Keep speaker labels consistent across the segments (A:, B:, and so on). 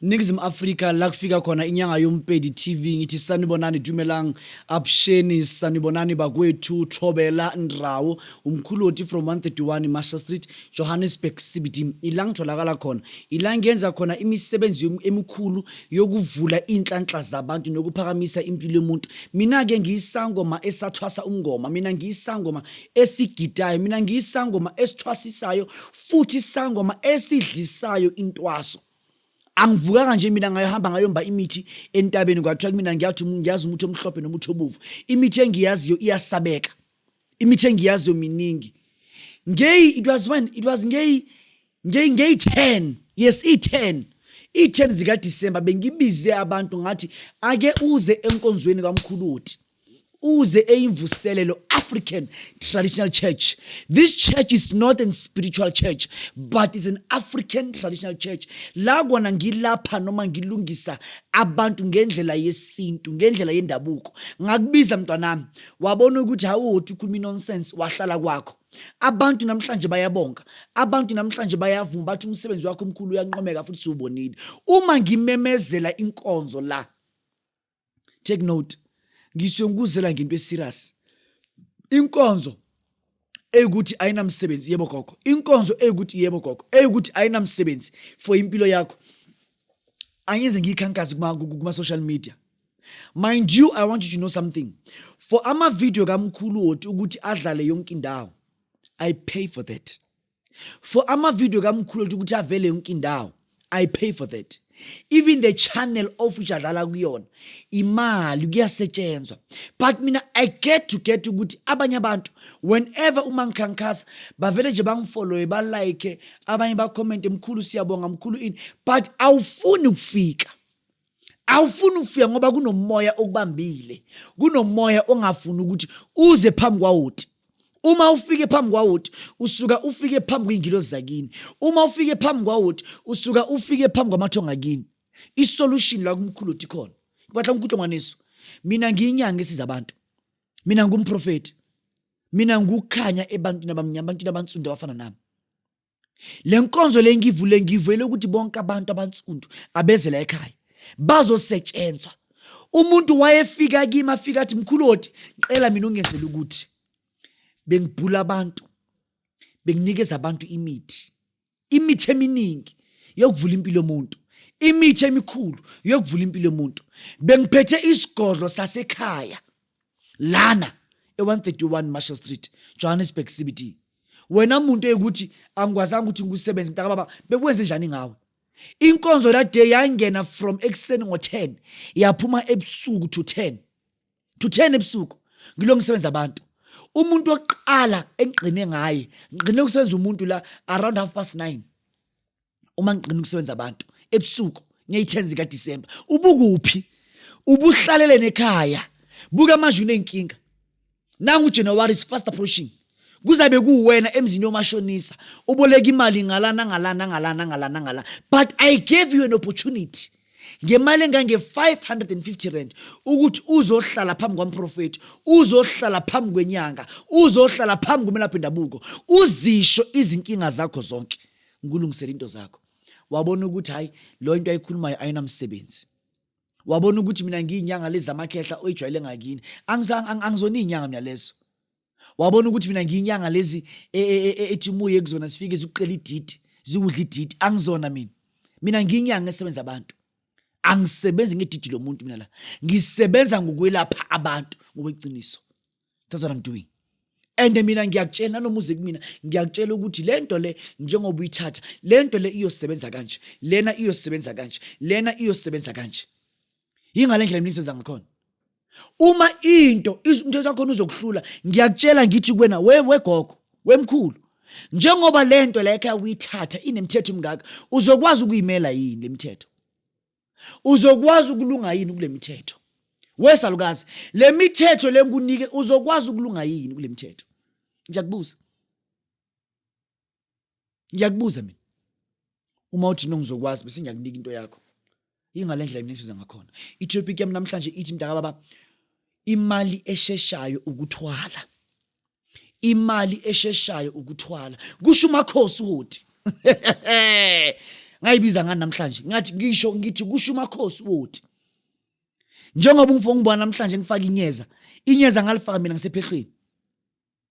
A: Ningizimu Afrika la kufika khona inyanga yompedi TV ngithi sanibonani dumelang absheni sanibonani bakwethu Thobela Ndrawo umkhuloti from 131 Masha Street Johannesburg CBD ila ngitholakala khona ila ngenza khona imisebenzi emikhulu yokuvula inhlanhla zabantu nokuphakamisa impilo yomuntu mina ke ngiyisangoma esathwasa umngoma mina ngiyisangoma esigidayo mina ngiyisangoma esithwasisayo futhi isangoma esidlisayo intwaso angivukanga nje mina ngayohamba ngayomba imithi entabeni kwathiwa kumina ngiyathi ngiyazi umuthi omhlophe nomuthi obovu imithi engiyaziyo iyasabeka imithi engiyaziyo miningi ngeyi it was when it was ngeyi ngeyi ngeyi 10 yes i 10 i 10 zika December bengibize abantu ngathi ake uze enkonzweni kamkhuluti uze eyimvuselelo african traditional church this church is not an spiritual church but is an african traditional church la kona ngilapha noma ngilungisa abantu ngendlela yesintu ngendlela yendabuko ngakubiza mntwanami wabona ukuthi hawuthi ukhuluma nonsense wahlala kwakho abantu namhlanje bayabonga abantu namhlanje bayavuma bathi umsebenzi wakho omkhulu uyanqomeka futhi siwubonile uma ngimemezela inkonzo la take note ngisuke ngikuzela ngento eserious inkonzo eyukuthi ayinamsebenzi yebo gogo inkonzo eyukuthi yebo gogo eyukuthi ayinamsebenzi for impilo yakho angize ngiyikhankazi kuma-social media mind you i want you to know something for amavidiyo kamkhulu woti ukuthi adlale yonke indawo i pay for that for amavidiyo kamkhulu othi ukuthi avele yonke indawo i pay for that even the channel of which adlala kuyona imali kuyasetshenzwa but mina i get to get ukuthi abanye abantu whenever uma ngikhankasa bavele nje bangifollowe balike abanye bakhomente mkhulu siyabonga mkhulu ini but awufuni ukufika awufuni ukufika ngoba kunomoya okubambile kunomoya ongafuni ukuthi uze phambi kwawoti uma ufike phambi kwawoti usuka ufike phambi kwey'ngilozi zakini uma ufike phambi kwawoti usuka ufike phambi kwamathonga kini isolution la kumkhulu othi khona kubatla umkhutlo ngwaneso mina ngiyinyanga esiza abantu mina ngumprofethi mina ngukhanya ebantwini abamnyama abantwini abansundu abafana nami le nkonzo le ngivule ngivele ukuthi bonke abantu abansundu abezela ekhaya bazosetshenzwa umuntu wayefika kimi afika athi mkhulu oti qela mina ungenzela ukuthi bengibhula abantu benginikeza abantu imithi imithi eminingi yokuvula impilo yomuntu imithi emikhulu yokuvula impilo yomuntu bengiphethe isigodlo sasekhaya lana e-131 marshall street johannesburg cbt wena muntu eyikuthi angikwazanga ukuthi ngikusebenze mntaka baba bekwenze njani ngawe inkonzo that day yangena from ekuseni ngo-10 yaphuma ebusuku to 10 to 10 ebusuku ngilo ngisebenza abantu umuntu wokuqala engigqine ngaye ngigqine ukusebenza umuntu la around half past 9 uma ngiqina ukusebenza abantu ebusuku ngeyi-10 zikadisemba ubukuphi ubuhlalele nekhaya buka amazwi unenkinga nangu ujanuwari is fast approaching kuzabe kuwena emzini yomashonisa uboleka imali ngalana ngalana ngalana ngalana ngalana but i gave you an opportunity ngemali engange-550 rand ukuthi uzohlala phambi kwamprofethi uzohlala phambi kwenyanga uzohlala phambi kumelaphi ndabuko uzisho izinkinga zakho zonke ngikulungisele into zakho wabona ukuthi hayi lo into ayikhulumayo ayinamsebenzi wabona ukuthi mina ngiyinyanga lezi zamakhehla oyijwayele ngakini angizona iyinyanga mina lezo wabona ukuthi mina ngiyinyanga lezi e, e, e, ethi umuye kuzona sifike zikuqela ididi zikudla ididi angizona mina mina ngiyinyanga esebenza abantu angisebenzi ngedidi lomuntu mina la ngisebenza ngokwelapha abantu ngokweqiniso that's what i'm doing and mina ngiyakutshela nanoma uze kumina ngiyakutshela ukuthi le nto le njengoba uyithatha le nto le iyosebenza kanje lena iyosebenza kanje lena iyosebenza kanje yingale ndlela mina ngisenza ngakhona uma into umthetho wakhona uzokuhlula ngiyakutshela ngithi kuwena we wegogo wemkhulu njengoba le nto la ekhaya uyithatha inemithetho imingaka uzokwazi ukuyimela yini le mithetho uzokwazi ukulunga yini kule mithetho wesalukazi le mithetho le ngikunike uzokwazi ukulunga yini kule mithetho ngiyakubuza ngiyakubuza mina uma uthi no ngizokwazi bese ngiyakunika into yakho ingale ndlela mina ngisiza ngakhona i-topic yami namhlanje ithi mntaka baba imali esheshayo ukuthwala imali esheshayo ukuthwala kusho umakhosi uhoti ngayibiza ngani namhlanje ngathi ngisho ngithi kusho umakhosi uhoti njengoba ungifo ngibona namhlanje ngifaka inyeza inyeza ngalifaka mina ngisephehlweni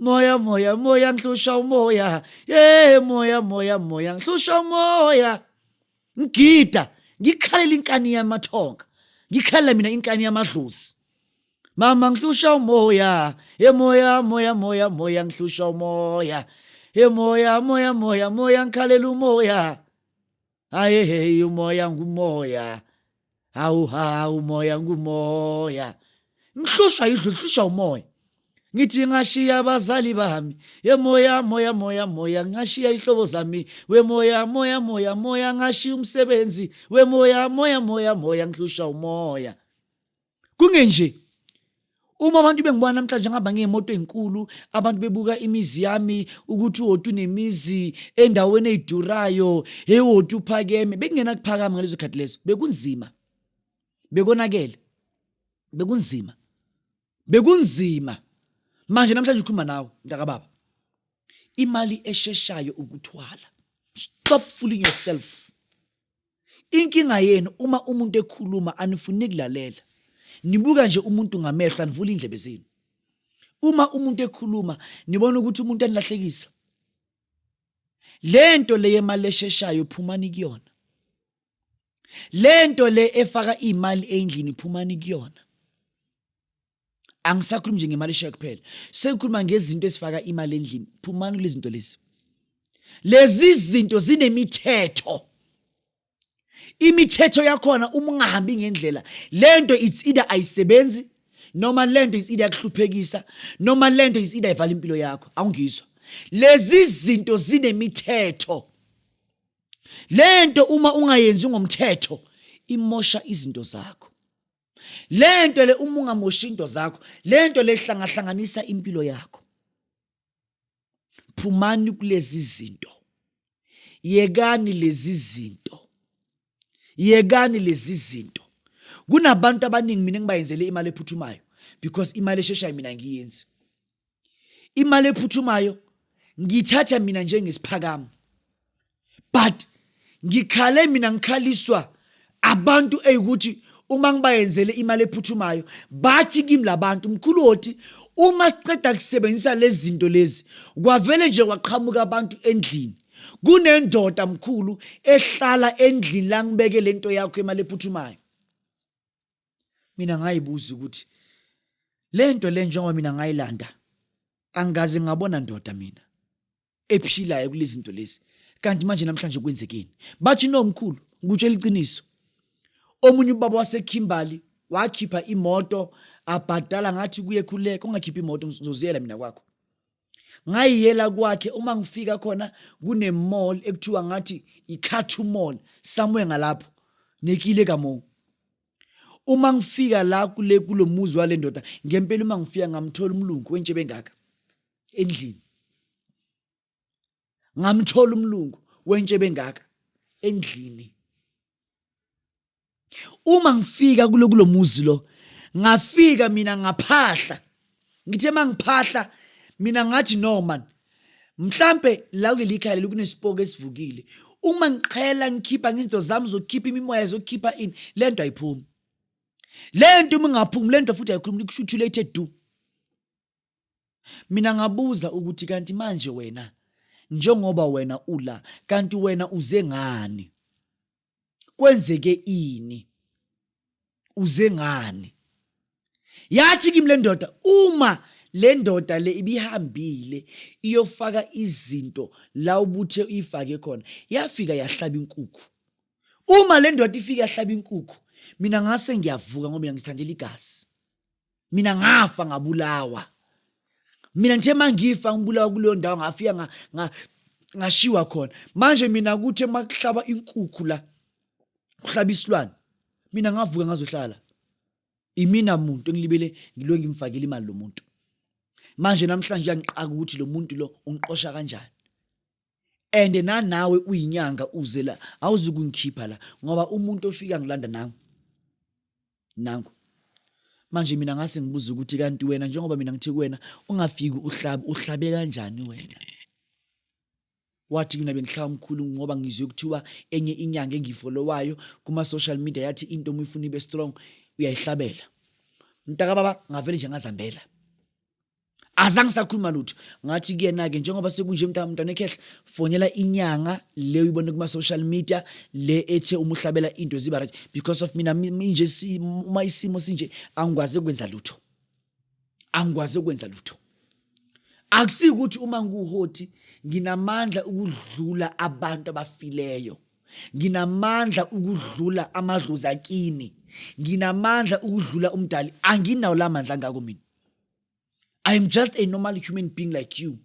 A: moya moya moya ngihlushwa umoya ye moya moya moya ngihlushwa umoya ngigida ngikhalela inkani yamathonga ngikhalela mina inkani yamadlozi mama ngihlushwa umoya ye moya moya moya moya ngihlushwa umoya ye moya moya moya moya ngikhalela umoya Hayi hey umoya ngumoya. Hawu ha umoya ngumoya. Ngihlushwa yidlu ngihlushwa umoya. ngithi ngashiya abazali bami yemoya moya moya moya ngashiya ihlobo zami wemoya moya moya moya ngashiya umsebenzi wemoya moya moya moya ngihlushwa umoya kungenje uma abantu bengibona namhlanje ngihamba ngemoto enkulu abantu bebuka imizi yami ukuthi woti unemizi endaweni eyidurayo hey woti uphakeme bekungena kuphakama ngalezo khathi lezo bekunzima bekonakele bekunzima bekunzima manje namhlanje ukhuluma nawe mntakababa imali esheshayo ukuthwala stop fooling yourself Inkinga yenu uma umuntu ekhuluma anifuni kulalela. Nibuka nje umuntu ngamehlo anivuli indlebe zenu. Uma umuntu ekhuluma nibona ukuthi umuntu anilahlekisa. Lento le yemali esheshayo phumani kuyona. Lento le efaka imali endlini phumani kuyona. angisakhulumi nje ngemali eshayo kuphela sekukhuluma ngezinto ezifaka imali endlini phumani kule zinto lezi lezi zinto zinemithetho imithetho yakhona uma ungahambi ngendlela lento it's either ayisebenzi noma lento is either yakuhluphekisa noma lento is either ivala impilo yakho awungizwa lezi zinto zinemithetho lento uma ungayenzi ngomthetho imosha izinto zakho le nto le uma ungamoshi into zakho le nto le hlangahlanganisa impilo yakho phumani kulezi zinto yekani lezi zinto yekani lezi zinto kunabantu abaningi mina ngibayenzele imali ephuthumayo because imali esheshayo mina ngiyenzi imali ephuthumayo ngiyithatha mina njengesiphakamo but ngikhale mina ngikhaliswa abantu eyikuthi uma ngibayenzele imali ephuthumayo bathi kimi labantu mkhulu oti uma siqeda kusebenzisa lezi zinto lezi kwavele nje kwaqhamuka abantu endlini kunendoda mkhulu ehlala endlini langibeke lento yakho imali ephuthumayo mina ngayibuza ukuthi lento le njengoba mina ngayilanda angikaze ngabona ndoda mina ephilayo kulezi zinto lezi kanti manje namhlanje kwenzekeni bathi nomkhulu ngikutshela iqiniso omunye ubaba wasekhimbali wakhipha imoto abhadala ngathi kuye khuleka ungakhipha imoto ngizoziyela mina kwakho ngayiyela kwakhe uma ngifika khona kunemall ekuthiwa ngathi ikhathu mall somewhere ngalapho nekile kamo uma ngifika la kule kulomuzi wale ndoda ngempela uma ngifika ngamthola umlungu wentshe bengaka endlini ngamthola umlungu wentshe bengaka endlini uma ngifika kulo kulomuzi lo ngafika mina ngaphahla ngithe mangiphahla mina ngathi no man mhlambe la kuleli khaya leli kunesipoko esivukile uma ngiqhela ngikhipha ngizinto zami zokukhipha imimoya zokukhipha ini lento ayiphumi lento uma ingaphumi lento futhi ayikhulumi kusho ukuthi late do mina ngabuza ukuthi kanti manje wena njengoba wena ula kanti wena uze ngani kwenzeke ini uze ngani yathi kimi lendoda uma le ndoda le ibihambile iyofaka izinto la ubuthe uyifake khona yafika yahlaba inkukhu uma le ndoda ifike yahlaba inkukhu mina ngase ngiyavuka ngoba ngiyangithandela igazi mina ngafa ngabulawa mina ngithe mangifa ngibulawa kuleyo ndawo ngafika nga, nga, ngashiwa khona manje mina kuthe makuhlaba inkukhu la kuhlaba isilwane mina ngavuka ngazohlala imina muntu engilibele ngilo ngimfakile imali lo muntu manje namhlanje uyangiqaka ukuthi lo muntu lo ungiqosha kanjani and nanawe uyinyanga uze la awuzukungikhipha la ngoba umuntu ofika ngilanda nangu nangu manje mina ngase ngibuza ukuthi kanti wena njengoba mina ngithi kuwena ungafiki uhlabe uhlabe kanjani wena wathi mina bengihlaba umkhulu ngoba ngizwe kuthiwa enye inyanga engifolowayo kuma-social media yathi into uma ifuna ibe strong uyayihlabela mntaka baba ngavele nje ngazambela azange sakhuluma lutho ngathi kuyena-ke njengoba sekunje mntana ekhehla fonela inyanga le uyibone kuma-social media le ethe uma uhlabela into ziba right because of mina inje uma isimo sinje angikwazi ukwenza lutho angikwazi ukwenza lutho akusike ukuthi uma ngiwuhoti nginamandla ukudlula abantu abafileyo nginamandla ukudlula amadlozi akini nginamandla ukudlula umdali anginawo la mandla ngako mina i am just a normal human being like you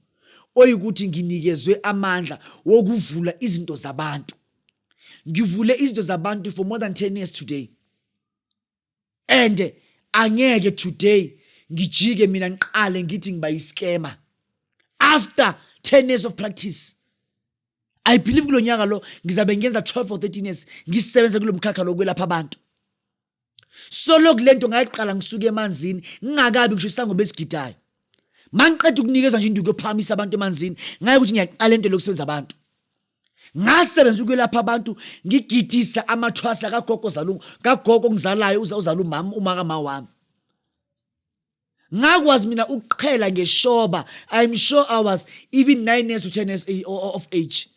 A: oyikuthi nginikezwe amandla wokuvula izinto zabantu ngivule izinto zabantu for more than 10 years today and angeke today ngijike mina ngiqale ngithi ngiba yiskema after 10 years of practice i believe kulo nyaka lo ngizabe ngenza 12 or 13 years ngisebenza kulo mkhakha lokwelapha abantu solo kulento ngayiqala ngisuke emanzini ngingakabi ngisho isango besigidayo mangiqeda ukunikezwa nje induku yophakamisa abantu emanzini ngaye ukuthi ngiyaqala into lokusebenza abantu ngasebenza ukwelapha abantu ngigidisa amathwasa kagogo zalu kagogo ngizalayo uza uzala umama umaka ma wami ngakwazi mina ukuqhela ngeshoba i'm sure i was even 9 years to 10 years of age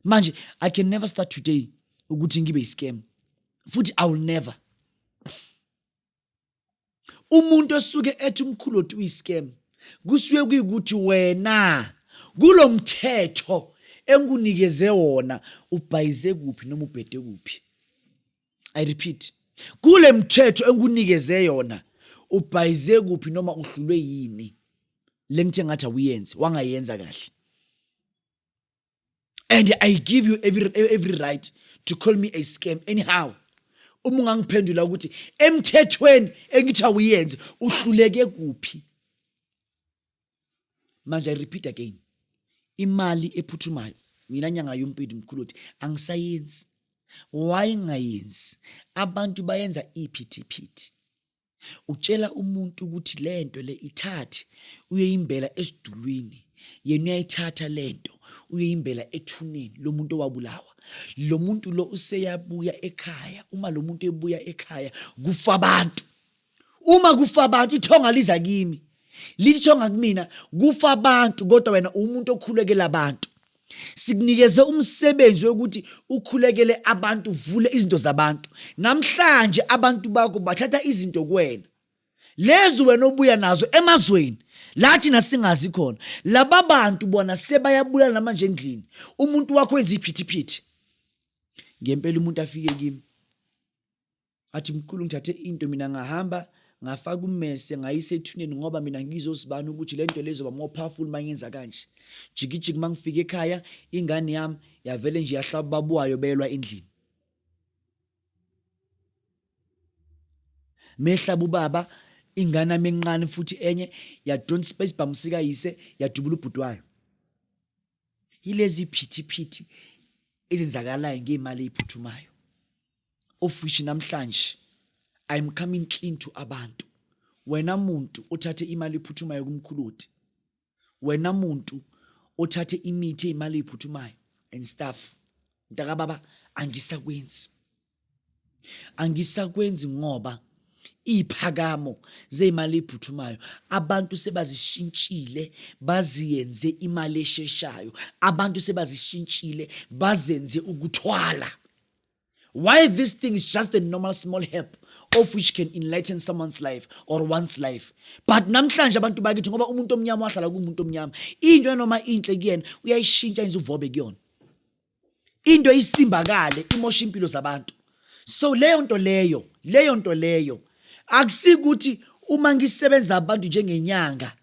A: manje i can never start today ukuthi ngibe iscam futhi i will never umuntu osuke ethi umkhulu othi uyiscam kusuke kuyikuthi wena kulo mthetho engikunikeze wona ubhayize kuphi noma ubhede kuphi i repeat kule mthetho engikunikeze yona ubhayize kuphi noma uhlulwe yini le nto engathi awuyenzi wangayenza kahle and i give you every, every right to call me a scam anyhow uma ungangiphendula ukuthi emthethweni engithi awuyenze uhluleke kuphi manje i repeat again imali ephuthumayo mina nyanga yompindi mkhulu uthi angisayenzi wayengayenzi abantu bayenza iphithi phithi utshela umuntu ukuthi lento le ithathe uyoyimbela esidulwini yena uyayithatha lento uyoyimbela ethuneni lomuntu owabulawa lo muntu lo useyabuya ekhaya uma lo muntu ebuya ekhaya kufa abantu uma kufa abantu ithonga liza kimi lithi ithonga kumina kufa abantu kodwa wena umuntu okhulekela abantu Sikunikeze umsebenzi wokuthi ukhulekele abantu, uvule izinto zabantu. Namhlanje abantu bakho bathatha izinto kuwena. Lezi wena obuya nazo emazweni lathi nasingazi khona. Laba bantu bona sebayabulala namanje endlini. Umuntu wakho wenza iphithiphithi. Ngempela umuntu afike kimi athi mkhulu ngithathe into mina ngahamba ngafaka ummese ngayise ethuneni ngoba mina ngizozibani ukuthi le nto lezoba more powerful uma ngenza kanje jikijiki uma ngifika ekhaya ingane yami yavele nje yahlaba ubaba wayo beyelwa endlini mehlaba ubaba ingane yami encane futhi enye yadonsa isibhamu sikayise yadubula ubhuti wayo yilezi phithiphithi ezenzakalayo ngemali eyiphuthumayo of which namhlanje i'm coming clean to abantu wena muntu othathe imali ephuthumayo kumkhuloti wena muntu othathe imithi eyimali eyiphuthumayo and stuff mntakababa angisakwenzi angisakwenzi ngoba iziphakamo zezimali eziphuthumayo abantu sebazishintshile baziyenze imali esheshayo abantu sebazishintshile bazenze ukuthwala why this thing is just a normal small help of which can enlighten someone's life or one's life but namhlanje abantu bakithi ngoba umuntu omnyama wahlala kumuntu omnyama into enoma inhle kuyena uyayishintsha yenza uvobe kuyona into isimbakale imosha impilo zabantu so leyo nto leyo leyo nto leyo akusikuthi uma ngisebenza abantu njengenyanga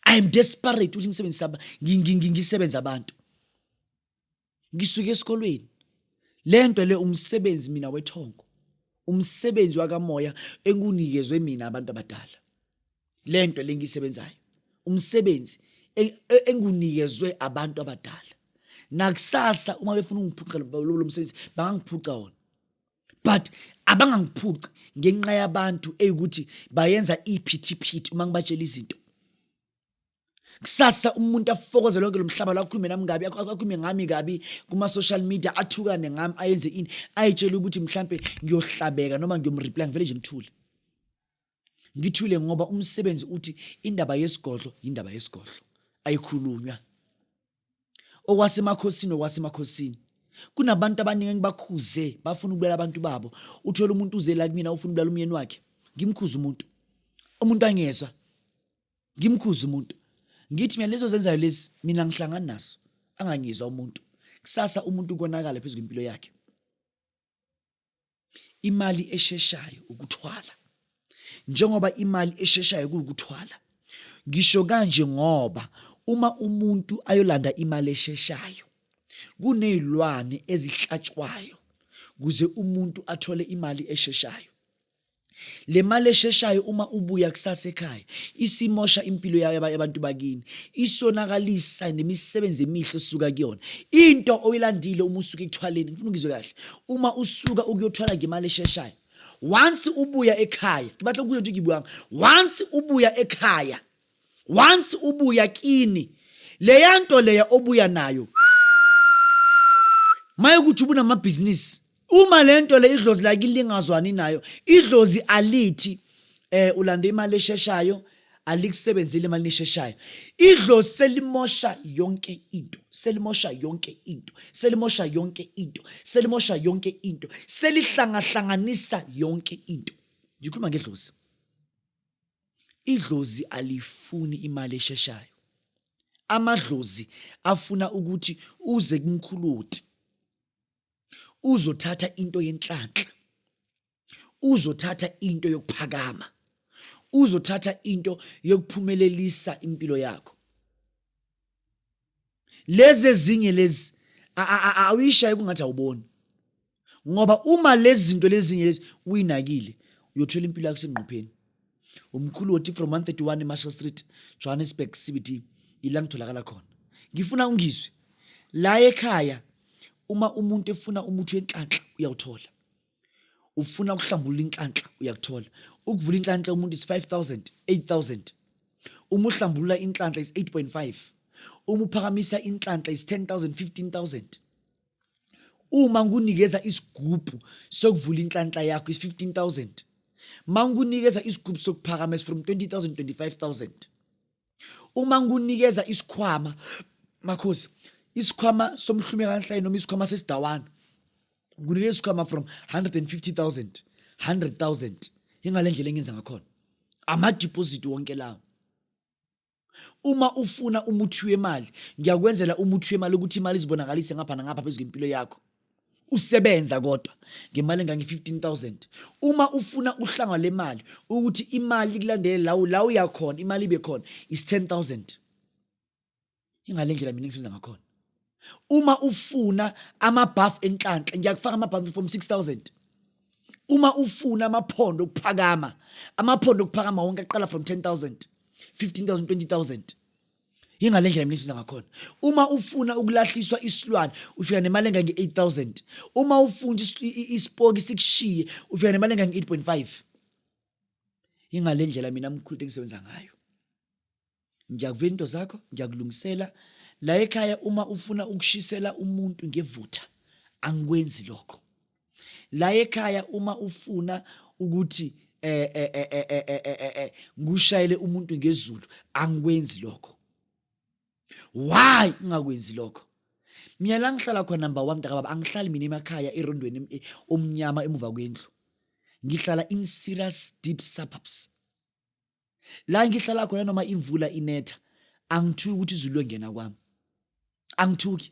A: i am desperate ukuthi ngisebenzisa ngisebenza abantu ngisuke esikolweni le nto le umsebenzi mina wethongo umsebenzi wakamoya engunikezwe mina abantu abadala lento lengisebenzayo umsebenzi e-, e-, engunikezwe abantu abadala nakusasa uma befuna ungiphuca lo msebenzi bangangiphuca wona but abangangiphuci ngenxa yabantu eyikuthi bayenza iphithiphithi uma ngibatshela izinto kusasa umuntu afokoze lonke lo mhlaba lakhulume nami kabi akhulume ngami kabi kuma-social media athukane ngami ayenze ini ayitshele ukuthi mhlampe ngiyohlabeka noma ngiyomreply ngivele nje ngithule ngithule ngoba umsebenzi uthi indaba yesigodlo indaba yesigodlo ayikhulunywa okwasemakhosini okwasemakhosini kunabantu abaningi engibakhuze bafuna ukubulala abantu babo uthola umuntu uze la kumina ufuna ukubulala umyeni wakhe ngimkhuza umuntu umuntu angezwa ngimkhuza umuntu ngithi mina lezo zenzayo lezi mina ngihlangana naso angangizwa umuntu kusasa umuntu ukonakala phezu kwempilo yakhe imali esheshayo ukuthwala njengoba imali esheshayo kuwukuthwala ngisho kanje ngoba uma umuntu ayolanda imali esheshayo kunezilwane ezihlatshwayo kuze umuntu athole imali esheshayo le mali esheshayo uma ubuya kusasa ekhaya isimosha impilo yayo abantu bakini isonakalisa nemisebenzi emihle osuka kuyona into oyilandile uma usuka ekuthwaleni ngifuna ngizwe kahle uma usuka ukuyothwala ngemali esheshayo once ubuya ekhaya ngibathe kuyo nje ngibuyanga once ubuya ekhaya once ubuya kini leya nto leya obuya nayo maye ukuthi ubunamabhizinisi uma le nto le idlozi lakini lingazwani nayo idlozi alithi eh ulanda imali esheshayo alikusebenzile imali esheshayo idlozi selimosha yonke into selimosha yonke into selimosha yonke into selimosha yonke into selihlangahlanganisa yonke into ngikhuluma ngedlozi idlozi alifuni imali esheshayo amadlozi afuna ukuthi uze kumkhuluti uzothatha into yenhlanhla uzothatha into yokuphakama uzothatha into yokuphumelelisa impilo yakho lezi ezinye lezi awuyishaye kungathi awuboni ngoba uma lezi zinto lezinye lezi uyinakile uyothola impilo yakho sengqopheni umkhulu wothi from 131 marshall street johannesburg cbt ila ngitholakala khona ngifuna ungizwe la ekhaya uma umuntu efuna umuthi wenhlanhla uyawuthola ufuna ukuhlambulula inhlanhla uyakuthola ukuvula inhlanhla umuntu is 5000 8000 uma uhlambulula inhlanhla is 8.5 uma uphakamisa inhlanhla is 10000 15000 uma ngikunikeza isigubhu sokuvula inhlanhla yakho is-15000 uma ngikunikeza isigubhu sokuphakama is from 20000 25000 uma ngikunikeza isikhwama makhosi isikhwama somhlumeka kanhlayi noma isikhwama sesidawana ngikunikeza isikhwama from 150000 100000 ingale ndlela engenza ngakhona amadeposit wonke lawo Uma ufuna umuthi wemali, ngiyakwenzela umuthi wemali ukuthi imali izibonakalise ngapha nangapha phezu kwempilo yakho. Usebenza kodwa ngemali engange-15,000. Uma ufuna uhlanga lemali ukuthi imali ikulandele lawo la uya khona, imali ibe khona is-10,000. Ingale ndlela mina engisebenza ngakhona. uma ufuna amabhafu enhlanhla ngiyakufaka amabhafu from 6000 uma ufuna amaphondo okuphakama amaphondo okuphakama wonke aqala from 10000 15000 20000 yingale ndlela mina isiza ngakhona uma ufuna ukulahliswa isilwane ufika nemali engange 8000 uma ufuna isipoki sikushiye ufika nemali engange 8.5 yingale ndlela mina mkhulu engisebenza ngayo ngiyakuvela into zakho ngiyakulungisela la ekhaya uma ufuna ukushisela umuntu ngevutha angikwenzi lokho la ekhaya uma ufuna ukuthi eh eh eh eh eh eh, eh, eh, eh ngushayele umuntu ngezulu angikwenzi lokho why ungakwenzi lokho mina la ngihlala khona number 1 mntakababa angihlali mina emakhaya erondweni omnyama emuva kwendlu ngihlala in serious deep suburbs la ngihlala khona noma imvula inetha angithuki ukuthi izulu lengena kwami angithuki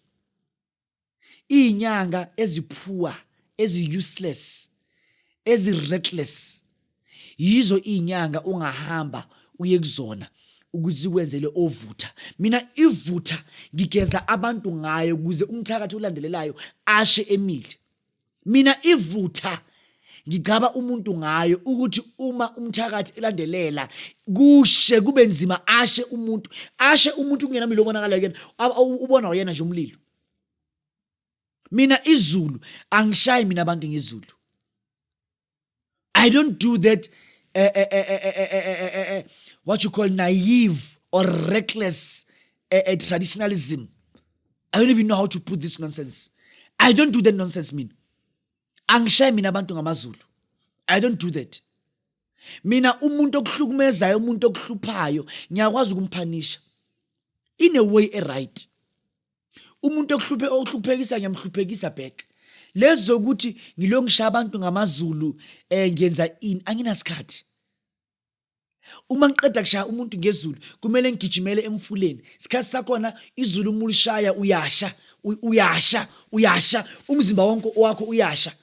A: izinyanga eziphuwa ezi useless ezi reckless yizo izinyanga ungahamba uye kuzona ukuze kwenzele ovutha mina ivutha ngigeza abantu ngayo ukuze umthakathi olandelelayo ashe emile mina ivutha ngigcaba umuntu ngayo ukuthi uma umthakathi elandelela kushe kube nzima ashe umuntu ashe umuntu kungena milo obonakala kuyena ubona uyena nje umlilo mina izulu angishayi mina abantu ngizulu I don't do that uh, uh, uh, what you call naive or reckless traditionalism. I don't even know how to put this nonsense. I don't do that nonsense mina. Angishaye mina abantu ngamazulu. I don't do that. Mina umuntu okuhlukumezayo umuntu okuhluphayo ngiyakwazi ukumphanisha in a way a right. umuntu okuhluphe okuhluphekisa ngiyamhluphekisa back lezi zokuthi ngilo ngishaya abantu ngamazulu um ngiyenza ini anginasikhathi uma ngiqeda kushaya umuntu ngezulu kumele ngigijimele emfuleni sikhathi sakhona izulu uma ulishaya uyasha uyasha uyasha umzimba wonke wakho uyasha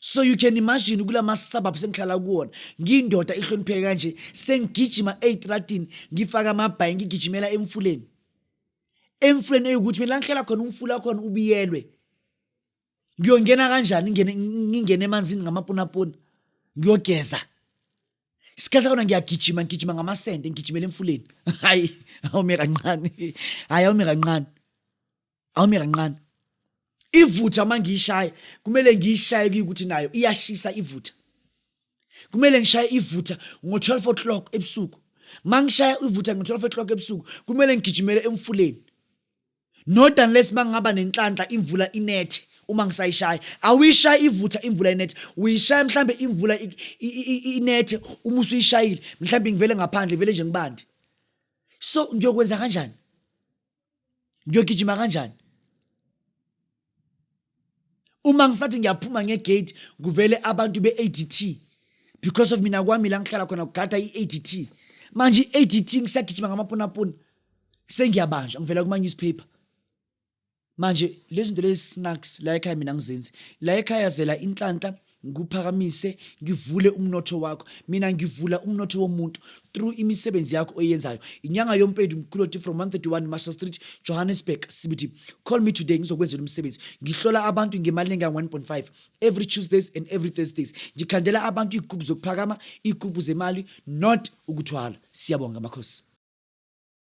A: so you can imagine kula ma-suburbs engihlala kuwona ngiyindoda ihlonipheke kanje sengigijima eyitratini ngifake amabhayi ngigijimela emfuleni emfuleni eyukuthi mina ngihlala khona umfula khona ubiyelwe ngiyongena kanjani ngingene ngingene emanzini ngamapunapuna ngiyogeza isikhathi kona ngiyagijima ngigijima ngamasende ngigijimela emfuleni hayi awume kancane hayi awume kancane awume kancane ivutha uma ngiyishaye kumele ngiyishaye kuyukuthi nayo iyashisa ivutha kumele ngishaye ivutha ngo-12 o'clock ebusuku uma ngishaya ivutha ngo-12 o'clock ebusuku kumele ngigijimele emfuleni not unless uma ngingaba nenhlanhla imvula inethe uma ngisayishaya awuyishaye ivutha imvula inethe uyishaya mhlawumbe imvula inethe uma usuyishayile mhlawumbe ngivele ngaphandle vele nje ngibandi so ngiyokwenza kanjani ngiyogijima kanjani uma ngisathi ngiyaphuma ngegate kuvele abantu be-adt because of mina kwami la ngihlala khona kugada i-adt manje i-adt ngisagijima ngamapunapuna sengiyabanjwa ngivela kuma-newspaper manje lezi zinto lezi snacks la ekhaya mina ngizenzi la ekhaya zela inhlanhla ngiphakamise ngivule umnotho wakho mina ngivula umnotho womuntu through imisebenzi yakho oyenzayo inyanga yompendu mkhuloti from 131 master street johannesburg cbt call me today ngizokwenzela umsebenzi ngihlola abantu ngemali engangu-1.5 every tuesdays and every thursdays ngikhandela abantu iy'gubhu zokuphakama iy'gubhu zemali not ukuthwala siyabonga makhosi